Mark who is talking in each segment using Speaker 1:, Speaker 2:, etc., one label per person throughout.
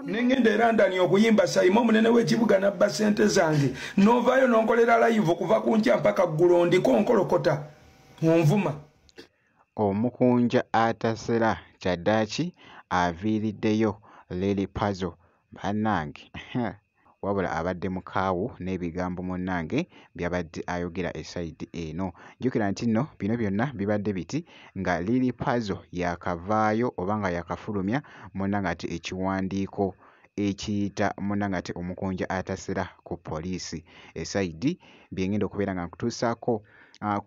Speaker 1: nengenda era ndani okuyimba sayima omunene w'ekibuga nabba sente zange novaayo nonkolera layivu okuva ku nkya mpaka ggulo ndiko nkolokota onvuma
Speaker 2: omukunja atasera kyaddaaki aviiriddeyo lili pazo bannange wabula abadde mukaawu n'ebigambo munnange by'abadde ayogera e sayidi eno. Jjukira nti nno bino byonna bibadde biti nga Lili Pazo yaakavaayo oba nga yaakafulumya munnange ate ekiwandiiko ekiyita munnange ate omukunja atasera ku poliisi e sayidi bye ng'enda okubeera nga nkutuusaako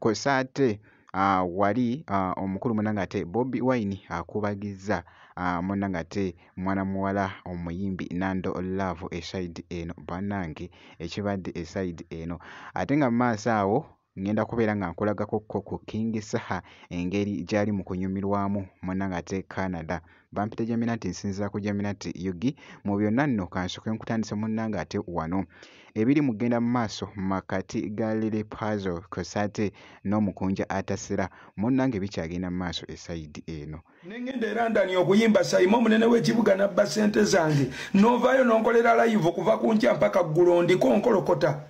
Speaker 2: kw'ossa ate uh, wali uh, omukulu muna ngate bobi wine akubagiza uh, muna ngate mwana muwala omuyimbi nando love esaidi eno banange ekibadde esaidi eno ate nga mumaaso awo ngenda kubeera nga nkulagako ko ku king saha engeri gyali mu kunyumirwamu muna ngate canada bampita jaminati nsinzira ku jaminati yugi mu byonna nno kansoke nkutandise munnange ate wano ebiri mu kugenda mu maaso makati ga lili pazo kosate n'omukunja atasira munnange bikyagenda mu maaso esayidi eno nengenda era ndani
Speaker 1: okuyimba sayima omunene w'ekibuga nabba ssente zange novaayo nonkolera layivu kuva ku nkya mpaka ggulo ndiko nkolokota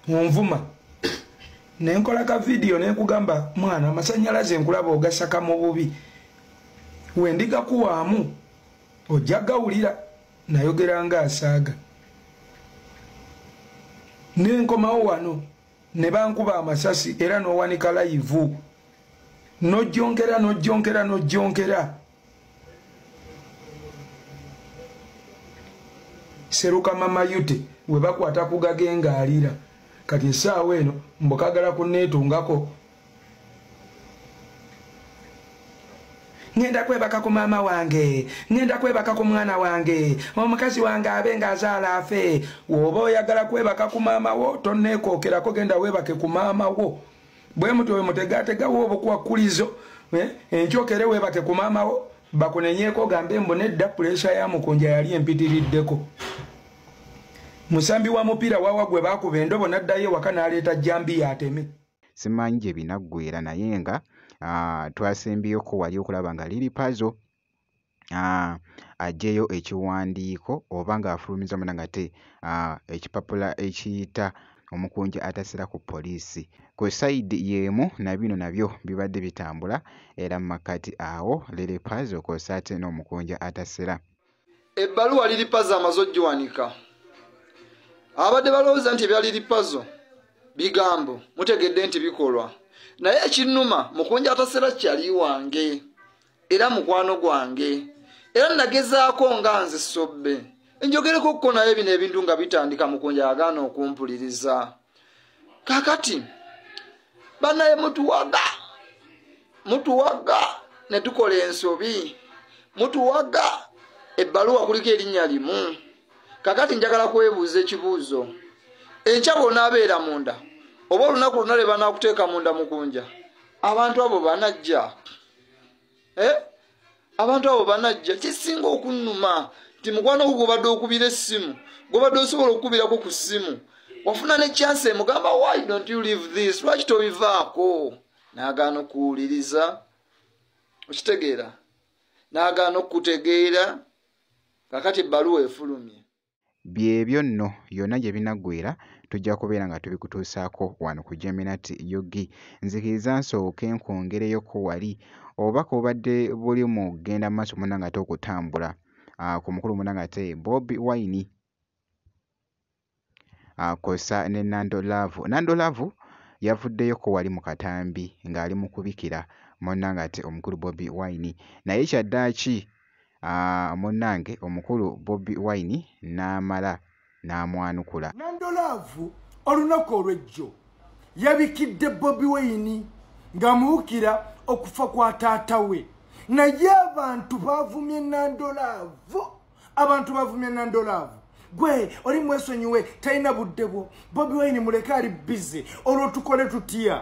Speaker 1: munvuma nenkola ka vidiyo nenkugamba mwana amasanyalaze nkulaba ogasaka mu bubi wendigakuwaamu ojja gawulira nayogera nga asaaga nenkomawo wano ne bankuba amasasi era n'owanika layivu nojjonkera nojjonkera nojjonkera seruka mama yute webakwata kugage nga alira kati esaawa eno mbukagala kunetungako ngenda kwebaka ku maama wange ngenda kwebaka ku mwana wange omukazi wange abe nga azaala afe woba oyagala kwebaka ku maama wo tonekokerako genda webake ku maama wo bwe mutyo bwe mutegategawo obukwakkulizo eh, enkyokere weebate ku maamawo bakunenyeeko gambe mbu nedda puleesha ya mukunja yali empitiriddeko musambi wa mupiira wawa gwe baakuba endobo n'addayo ewaka n'aleeta jambi yateme simanyi gye
Speaker 2: binaggwera naye nga ah, twasembyeyo ko wali okulaba nga liri pazo aa aggyeyo ekiwandiiko oba ng'afulumizza munda ng'ate aa ekipapula ekiyita omukunja atasira ku poliisi. Ku sayidi y'emu na bino nabyo bibadde bitambula era mu makkati awo Lilipazo kw'ossa ate n'omukunja atasira. Ebbaluwa
Speaker 3: Lilipazo amaze okugiwanika abadde balowooza nti ebya Lilipazo bigambo mutegedde nti bikolwa naye ekinnuma mukunja atasira kyali wange. era mukwano gwange era nagezaako nga nze sobbe enjogereko kko naye bino ebintu nga bitandika mukunja yagaana okumpuliriza kakati banaye mutuwaga mutuwaga ne tukola ensobi mutuwaga ebbaluwa kuliko erinnya limu kakati njagala kwebuuza ekibuuzo enkya bwonaabeera munda oba olunaku lwona lwe banaakuteeka munda mukunja abantu abo banajja eh? abantu abo banajja kisinga okunuma nti mukwano gwo gwobadde okubira essimu gwobadde osobola okukubirako ku ssimu wafuna ne chance emugamba why don't you leave this lwaki tobivaako nagaana okuwuliriza okitegeera nagaana okukutegeera kakati ebbaluwa efulumye Byebyo
Speaker 2: nno, yonna gye binaggweera tujja kubeera nga tubikutuusaako wano ku Geminat ug. Nzikiriza nsooke nkwongereyoko wali. Obubaka bubadde buli mu kugenda mu maaso munnange ate okutambula ku mukulu munnange ate Bobi Wine kwossa ne Nando Love. Nando Love yavuddeyoko wali mu katambi ng'ali mu kubikira munnange ate omukulu Bobi Wine. Naye kyaddaaki Aah munange omukulu bobi wine namala namwanukula. Nando love
Speaker 4: olunaku olwejjo yabikidde bobi wine nga amuwukira okufa kwa taata we naye abantu bavumye nando love abantu bavumye nando love gwe oli mwesonyiwe talina budde bwo bobi wine muleke ali bize olwo tukole tutya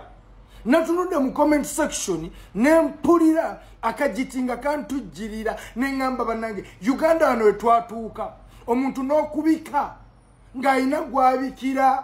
Speaker 4: natunudde mu comment section nempulira akajiti nga kantujjirira neŋamba banange uganda wano wetwatuuka omuntu n'okubika ng'alina gwabikira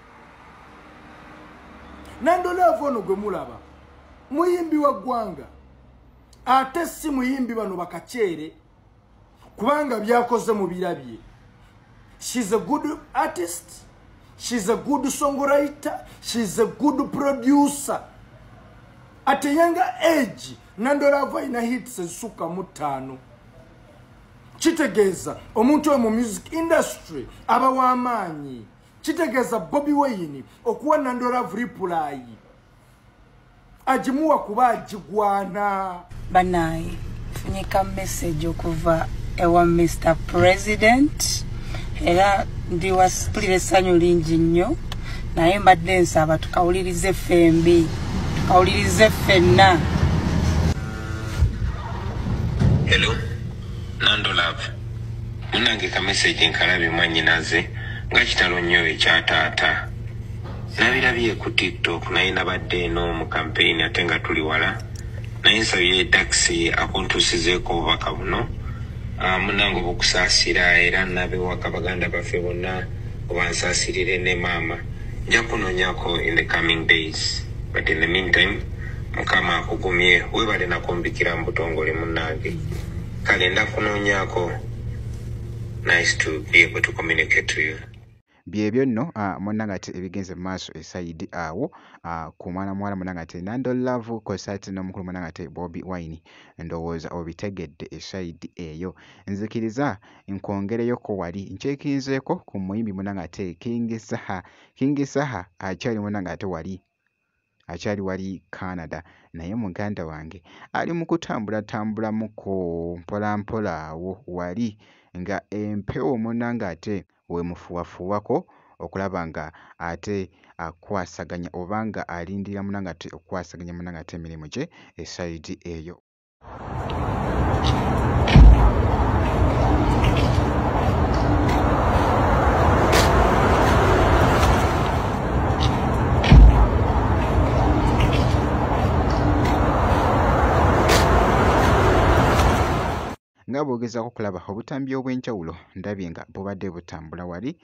Speaker 4: nandolaavu ono gwe mulaba muyimbi wa ggwanga ate si muyimbi bano bakaceere kubanga byakoze mu birabye shes a good artist shes a good songwriter shes a good producer at a younger age nandolaavu alina hits ezisukka mu ttaano kitegeeza omuntu oyo mu music industry aba w'amaanyi kitegeeza bobi weyini okuwa nandolavu ripulayi agimuwa kuba agigwana banaye
Speaker 5: funyika message okuva ewa mr president era ndi wasipulira essanyu lingi nnyo naye mbadde nsaba tukawulirize ffembi tukawulirize ffenna
Speaker 6: Hello. nando love munange ka message nkalabye mwanyinaze nga kitalo nnyo ekya taata nabirabye ku tiktok naye nabadde eno mu campaign ate nga tuli wala naye nsabye taxi akuntuusizeeko obubaka buno ah, munange obukusaasira era nabewaka baganda baffe bonna obansaasirire ne maama nja kunonyako in the coming days but in the meantime mukama akugumye webale nakumbikira mubutongole munange kale ndakunonyako nice to be able to communicate to you byebyo nno
Speaker 2: ah, munanga ate ebigenze mumaaso esayidi awo ah, ku mwana muwala munanga ate nando love kosa ate nomukulu munanga ate bobi wine ndowooza obitegedde esayidi eyo nzikiriza nkwongereyoko wali nkyekinzeeko ku muyimbi munanga ate kingi saha kingi saha akyali munanga ate wali akyali wali Canada naye muganda wange ali mu kutambulatambulamukko mpolampola awo wali nga empewo munnange ate weemufuwafuuwako okulaba nga ate akwasaganya oba nga alindira munnange ate okukwasaganya munnange ate emirimu gye esayidi eyo. nga bwogezaako okulaba obutambi obw'enjawulo ndabye nga bubadde butambula wali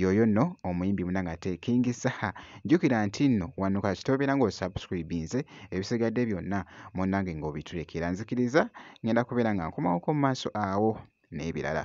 Speaker 2: yoyo nno omuyimbi munange ate king saha jjukira nti nno wano kasita obeera nga osubscribinze ebisigadde byonna munange ng'obitulekera nzikiriza ngenda kubeera nga nkomawoko mu maaso awo n'ebirala